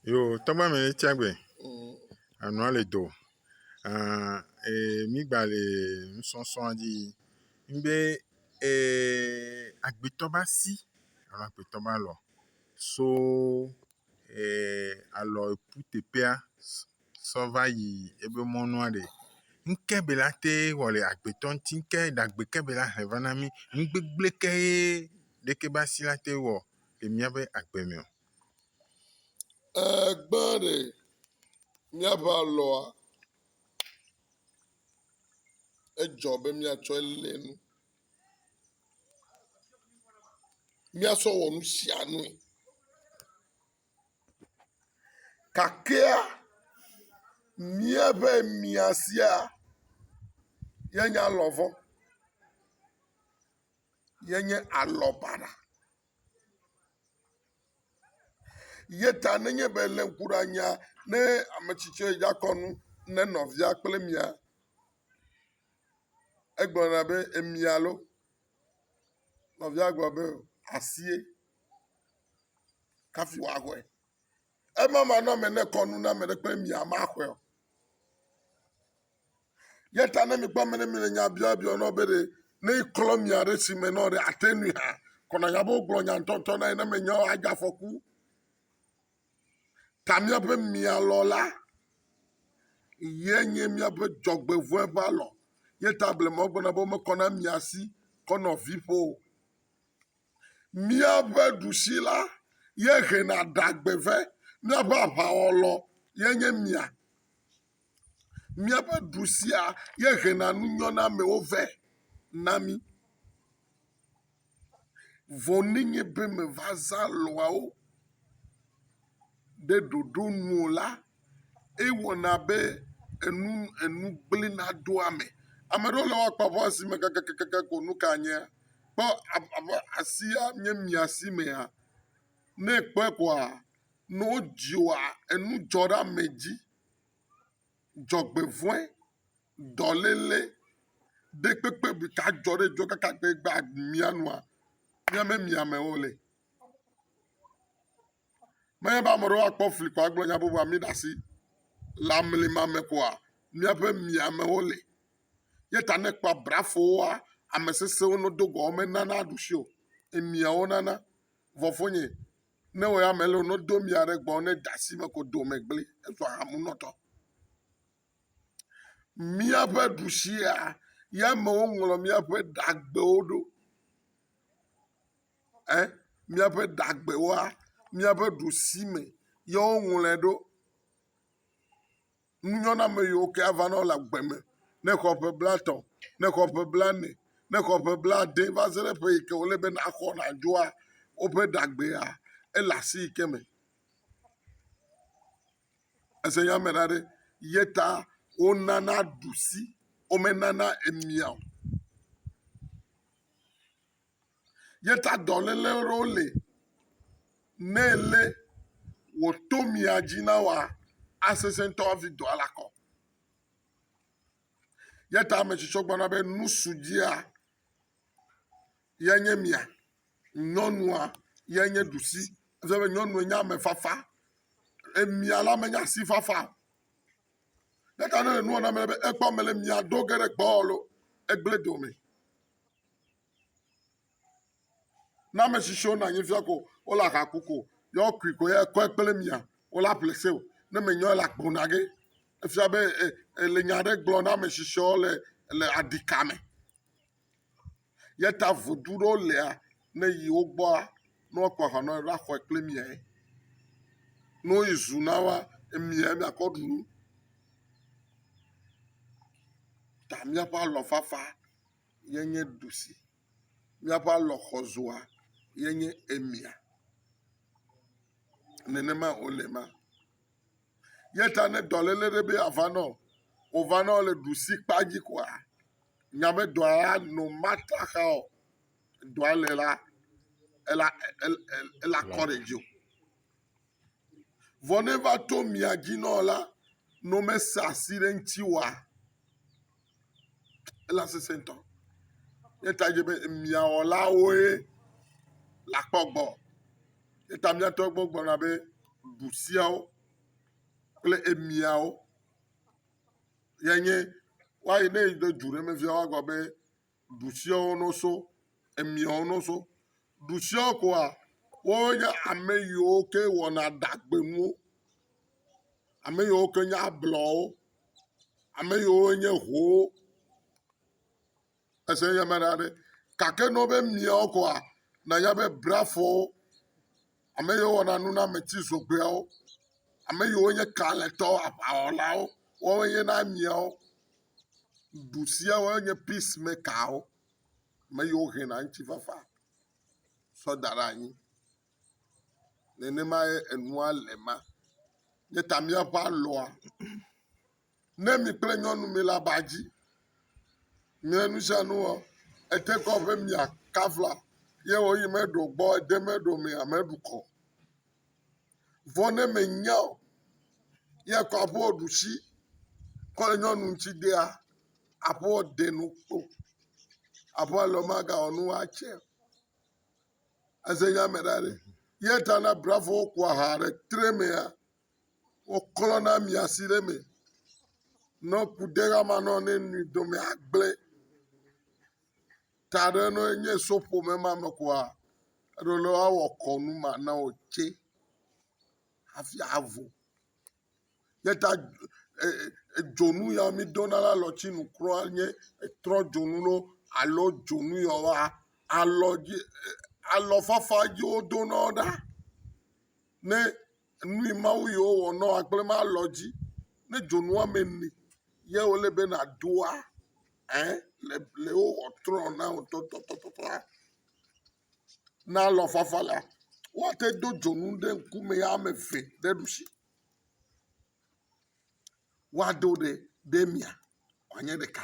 Yoo, tɔgba mɛ ye tsia gbe. Anua le do. Aa ee mi gba le nusɔsɔa dzi. Ŋbe ee agbetɔ ba si alo agbetɔ ba lɔ so ee alɔ epu teƒea sɔ va yi ebe mɔnua ɖe. Ŋke be la te wɔ le agbetɔ ŋti ŋke ɖagbe ke be la he va na mi. Ŋgbegble ke ye ɖeke ba si la te wɔ le miabe agbe me o. Ee, gbã ɖe míaƒe alɔa, edzɔ be míatsɔe lé nu. Míasɔ wɔ nu sia nue. Gakea míaƒe mia sia yenya alɔ vɔ̃, yenye alɔ baɖa. Ye ta nenye be èlé ŋku ɖe anyia, ne ame tsi tsɛ dza kɔ nu ne nɔvia kple mia, egblɔna be emia loo. Nɔvia gblɔ be asie kafi wòaxɔe. Ema manɔme ne ekɔ nu na ame ɖe kple mia, maxɔe o. Eya ta ne mikpɔ ame ɖe mi le nya biɔ biɔ nɔ be ɖe ne klɔ mia ɖe si me nɔ ɖe ate nui hã kɔnɔ nya be wogblɔ nya ŋutɔŋutɔ na ye ne menye o adze afɔku. Ta míaƒe mia lɔ la ye nye míaƒe dzɔgbevɔe ƒe alɔ. Ye ta blema wogblɔna be womekɔ na mia si kɔ nɔ vi ƒo o. Míaƒe ɖusi la ye hena ɖagbeve. Míaƒe aʋawɔlɔ ye nye mia. Míaƒe du sia ye hena nu nyɔnamewo vɛ na mí. Vɔ nenye be mèva zã lɔ̃awo ɖe ɖoɖo nu o la, ewɔna be enu enu gblẽna ɖo ame. Ame aɖewo le wo akpa ƒe asime kakakaka ko nu ka nye? Kpɔ abe asia nye mia si mea? Ne èkpɔe koa, ne wodzi wòa, enu dzɔ ɖe ame dzi. Dzɔgbevɔ̃e, dɔléle, ɖekpekpe bu ta dzɔ ɖe dɔ kaka be gba mía nua, mía me mia amewo le. Menye be ame aɖewo akpɔ fli kɔ agblɔ nya bubu ami ɖe asi le amli ma me koa, míaƒe mia amewo le. Ye ta ne ekpɔ abrafowoa, ame sesẽwo no do gɔme nana ɖusi o. Emiawo nana. Vɔ fonye, Ne wɔ ame lɔ no do mia ɖe gbɔ ne da si me ko do me gble ezɔ hamu nɔtɔ. Míaƒe ɖusia ya amewo ŋlɔ míaƒe dagbewo ɖo. Ɛ míaƒe dagbewoa míaƒe ɖusi me ye woŋlɔe ɖo. Nu nyo na ame yiwo ke ava na wo le agbe me ne xɔ ƒe blatɔ̃, ne xɔ ƒe blane, ne xɔ ƒe blade va se ɖe ƒe yi ke wòle be naxɔ nadzɔa, woƒe ɖeagbea, ele asi yi ke me. Ese nya me ɖa ɖe? Ye ta wonana ɖusi, womenana emia o. yeta dɔ lele ɖo le ne ele wò to mia dzi na wa asese ŋutɔ avi dɔa la kɔ. Yeta ame tsitsɔ gbɔna be nusu dzia yenye mia, nyɔnua yenye ɖusi. Efia be nyɔnua nye ame fafa. Emia la menye asi fafa o. Yeta ne le nua na be ekpɔ mele mia do ge ɖe gbɔ alo egble dome. na ame si tso na anyi fia ko wole aha ku ko ya wokui ko ya kɔe kple mia wole aƒle se o ne menyɔe la gblɔ na ge efia be e ele nya aɖe gblɔ na ame si tso le le aɖika me ya ta vodu ɖewo lia ne yi wo gbɔa ne woakɔ aha na wo la xɔe kple miae ne woyi zu na woa emia miakɔ ɖu nu ta miaƒe alɔ fafa. ye nye ɖusi. Míaƒe alɔxɔzɔa ye nye emia. Nenema wòle ema. Ye ta ne dɔléle ɖe be yeava na wò, wòva na wò le ɖusikpa dzi koa, nya be dɔa ya no mate axa o. Dɔa le la, ela, ela, ela kɔ ɖe dziwò. Vɔ ne va to mia dzi nɔ la, ne womese asi ɖe eŋuti oa, ela sesẽ ŋutɔ. Eya ta dze be mia wɔlawoe le akpɔ gbɔ. Eya ta miatɔ gbɔ gblɔna be ɖusiawo kple emiawo ye nye, woayi ne yi ɖe du ɖe me fia woagblɔ be. ɖusiawo no so emiawo no so ɖusiawo koa woe nye ame yiwo ke wɔna ɖagbe nuwo ame yiwo ke nye ablɔwo ame yiwo nye howo ese nye me ɖa ɖi gake ne wó be miawo koa nanya be brafowo Ame yiwo wɔna nunameti zogbɔawo. Ame yiwo nye kalẽtɔwo, aʋawɔlawo. Woawoe nye na miawo. Ŋu sia woe nye peace makerwo. Ame yiwo hɛna ŋutifafa tsɔ da ɖe anyi. Nenemae enua le ema. Míeta míaƒe alɔa. Ne mi kple nyɔnu mi le aba dzi, mia nu sia nu wɔ, ete kɔ ƒe mia kafla, ye wɔ yi meɖo gbɔ, ede meɖo me ame ɖu kɔ. Vɔ ne me nya o, ye kɔ aƒe wɔ ɖusi, kɔ le nyɔnu ŋuti dea, aƒe wɔ de nu kpo. Aƒe wɔ lɔ maga wɔ nu wa tse. Eze nya me ɖa ɖe. Ye ta na brafowo kua ha ɖe tre mea, woklɔ na mia si ɖe eme. Ne ku ɖe ama nɔ ne nui dome agble. Ta ɖe ne enye so ƒome ma me koa, eɖo le woawɔ kɔnu ma na wò tse hafi avo. Ye ta e e dzonu ya mi dona le alɔtsinu kura nye etrɔ dzonu ɖo alo dzonu ya woa alɔ dzi e alɔfafa dzi wodona wo ɖa ne. Enui mawo yi wowɔ nɔ akple ma lɔ dzi ne dzonu ame ni ye wole be na doa ɛ le le wo wɔ trɔ na wo tɔ tɔ tɔ tɔ tɔa na lɔ fafa la wa te do dzonu ɖe ŋku me ya me ve ɖe ɖusi wa do ɖe ɖe mia wa nye ɖeka.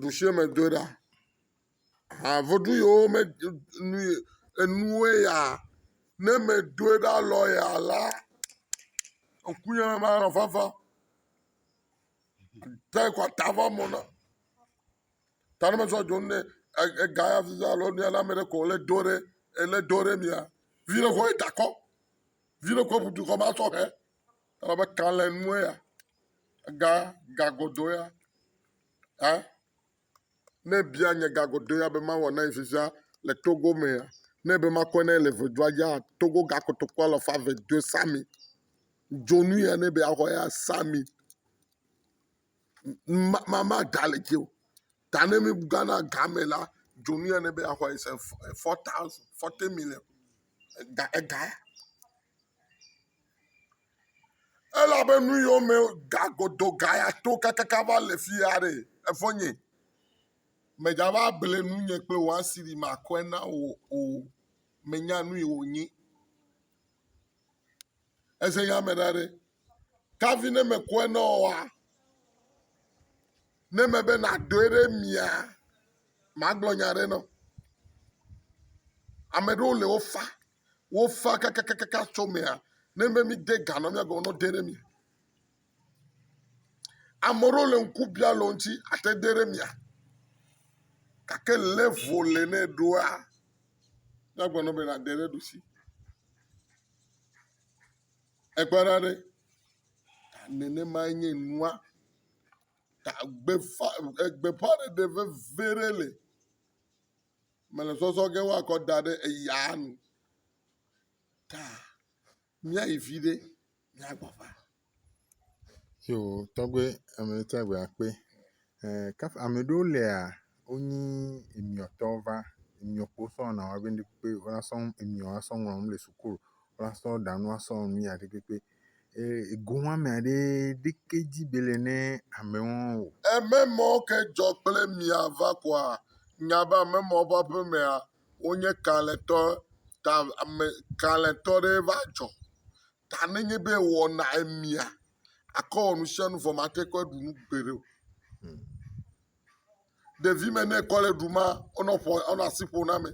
ɖusieme do ɖa. Ha vodu yi wome ɖu nu yi enuwo ya ne eme do ɖa lɔ ya la ŋkunye me manɔ fafa o. Te kɔ ta vɔ mo na. Ta ne mesɔ dzo ne ega ya fiza alo nɛ na ame ɖe ko le do ɖe ele do ɖe mia vi ɖe ko ye takɔ. Vi ɖe ko ŋudu kɔ masɔ hɛ. Elabe kalẽnue ya, ga gagodo ya, hã, ne ebia nye gagodo ya be mawɔ na ye vivia le Togo mea, nɛ be makɔe na ye le ʋedua dzia, Togo ga kotoku alafa eve doe sa mi. Dzonu ya nɛ be yeaxɔ ya sa mi. Ma ma maɖa le dzi o. Ta ne mí gana ga me la, dzonu ya nɛ be yeaxɔe is e fɔ fɔ taw fɔti milɛŋ ega ega ya. Elabe nu yiwo me ga godo ga ya to kakaka va le fi ya ɖe evɔ nye medzava ble nu nye kple wò asi ɖi makɔe na wò o. Menya nu yi wònye. Eze nya me ɖa ɖe. Kavi ne mekɔe na wòa, ne mebe nàɖoe ɖe mia, magblɔ nya aɖe na wò. Ame aɖewo le wofa wofa kakakaka tso emea, ne míede ga na wo la, míagblɔ be woɖe ɖe mía ŋu. Ame aɖewo le ŋku biã le wo ŋuti ate ŋu aɖe ɖe mía ŋu gake level le ne eɖoa, míagblɔ na wo be yewoade ɖe ɖusi. Ekpɔ ɖa ɖe, ta nenemae nye nua, ta gbeƒã ɖeɖe veve ɖe li. mele zɔzɔ ge woakɔ da ɖe eya nu ta míayi viɖe míagbɔ va. Yo tɔgbe ame tsa gbe akpe. Eh, kaf ame ɖewo lea wonyi emiɔtɔ va emiɔkpo sɔ na wa be ne kpe wala sɔ emiɔ asɔ ŋlɔ nu le sukulu wala sɔ ɖanu asɔ nu ya ɖe kpekpe. Ego ame aɖe ɖeke dzi be le ne ame wɔn o. Eme mɔ ke dzɔ kple mia va kɔa nya be ame mɔ ƒe aƒemea wonye kalẽtɔ ta ame kalẽtɔ ɖe va dzɔ ta ne nye be wɔna emia akɔ wɔ nusianu vɔ mate kpɔ ɖu nu gbeɖe o. ɖevi me ne ekɔ le ɖum la, enɔ ƒo enɔ asi ƒom na ame.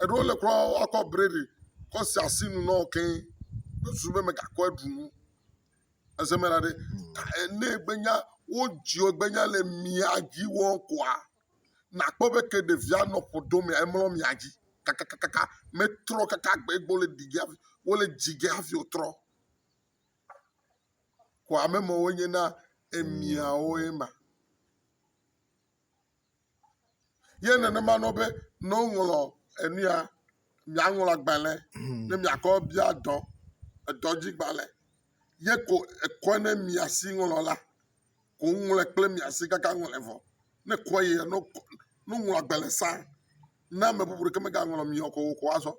Eɖewo le kura woakɔ bread kɔ se asi nu na wo keŋ kple susu be megakɔ aɖu nu. Ese me la ɖe ta e ne egbe nya wodzi wò egbe nya le mia dzi wɔm koa nakpɔ be ke ɖevia nɔ ƒo ɖom mea emlɔ mia dzi kakakaka metrɔ kaka gbe egbe wole ɖige hafi wole dzi ge hafi wotrɔ. xɔame me wo nye na emiawo ye ma ye nenema nɔ be ne woŋlɔ enua miaŋlɔ agbalẽ ne miakɔ bia dɔ edɔ dzi gbalẽ ye ko ekɔe ne mia si ŋlɔ la ko woŋlɔe kple mia si kaka ŋlɔe vɔ ne kɔe yia no kɔ no ŋlɔ agbalẽ sa ne ame bubu ɖeke megaŋlɔ mi o ko wòxɔ azɔ.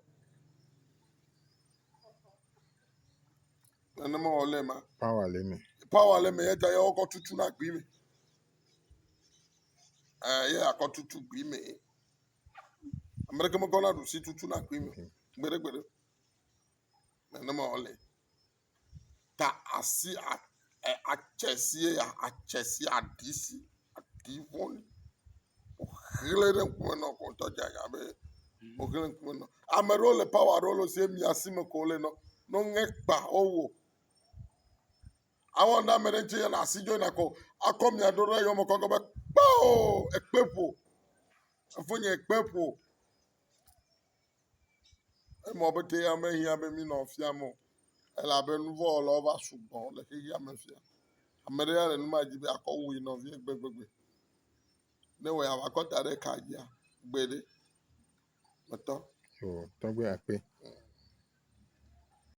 Nenema wòle ema. Pawa le eme. Pawa le eme eya ta ye wokɔ tutu na gbi me. Ɛɛ ye akɔ tutu gbi me. Ame ɖeke mekɔ na ɖusi tutu na gbi me. Gbeɖegbeɖe. Nenema wòle. Ta asi a Atse sie ya, atse sie aɖi si aɖi ŋɔli woxlẽ ɖe ŋku me na wò ŋutɔ edze abe woxlẽ ɖe ŋkume na wò. Ame aɖewo le power aɖewo le esi mia si me ko wole na wo. Ne woŋe kpa wowɔ. Awɔ ne ame aɖe ŋuti na asi dzo nakɔ akɔ mia ɖo ɖe eyɔme kɔ gblɔ be kpao ekpe ƒo. Fofonye ekpe ƒo. Emɔ be ke ya mehiã be mí nɔ fiam o. Elabe nu vɔ̃ wɔlawo va sugbɔ le xexea me fia. Ame ɖe ya le nu ma dzi be akɔ wu yi nɔvia gbegbegbe. Ne wɔe ava kɔ da ɖe ka dzia, gbe ɖe. Metɔ. O tɔgbe akpe.